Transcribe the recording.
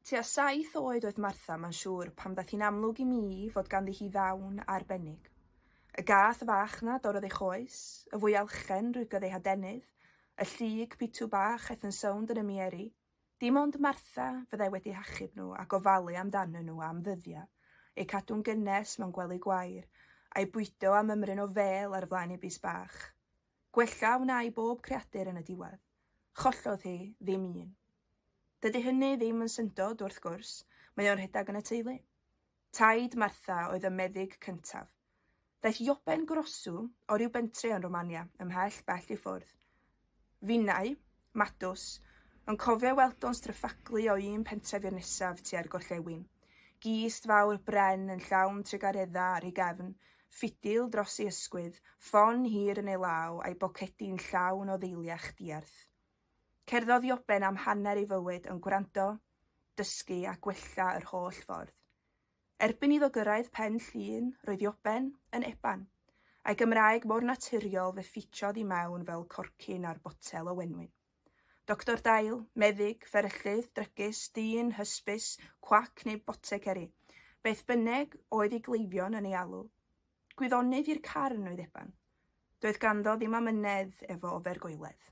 Tua saith oed oedd Martha, mae'n siŵr, pan ddaeth hi'n amlwg i mi fod ganddi hi ddawn arbennig. Y gath fach 'na dorrodd ei choes, y fwyalchen rwygodd ei hadenydd, y llyg pitw bach aeth yn sownd yn ymieri. Dim ond Martha fyddai wedi hachub nhw a gofalu amdanyn nhw am ddyddiau, eu cadw'n gynnes mewn gwely gwair, a'u bwydo am ymryn o fêl ar flaen ei bys bach. Gwella wna i bob creadur yn y diwedd. Chollodd hi ddim un. Dydy hynny ddim yn syndod, wrth gwrs, mae o'n rhedeg yn y teulu. Taid Martha oedd y meddyg cyntaf. Daeth Joben Grosu o ryw bentre yn Romania, ymhell bell i ffwrdd. Finnau, Madws, yn cofio ei weld o'n stryffaglu o un pentref i'r nesaf tua'r gorllewin. Gist fawr bren yn llawn trugareddau ar ei gefn, ffidil dros ei ysgwydd, ffon hir yn ei law a'i bocedi'n llawn o ddeiliach diarth. Cerddodd Ioben am hanner ei fywyd yn gwrando, dysgu a gwella yr holl ffordd. Erbyn iddo gyrraedd Pen Llŷn, roedd Ioben yn Eban. A'i Gymraeg mor naturiol fe ffitiodd i mewn fel corcyn ar botel o wenwyn. Doctor dail, meddyg, fferyllydd, drygus, dyn, hysbys, cwac neu boteceri, beth bynneg oedd i gleifion yn ei alw. Gwyddonydd i'r carn oedd Eban. Doedd ganddo ddim amynedd efo ofergoeledd.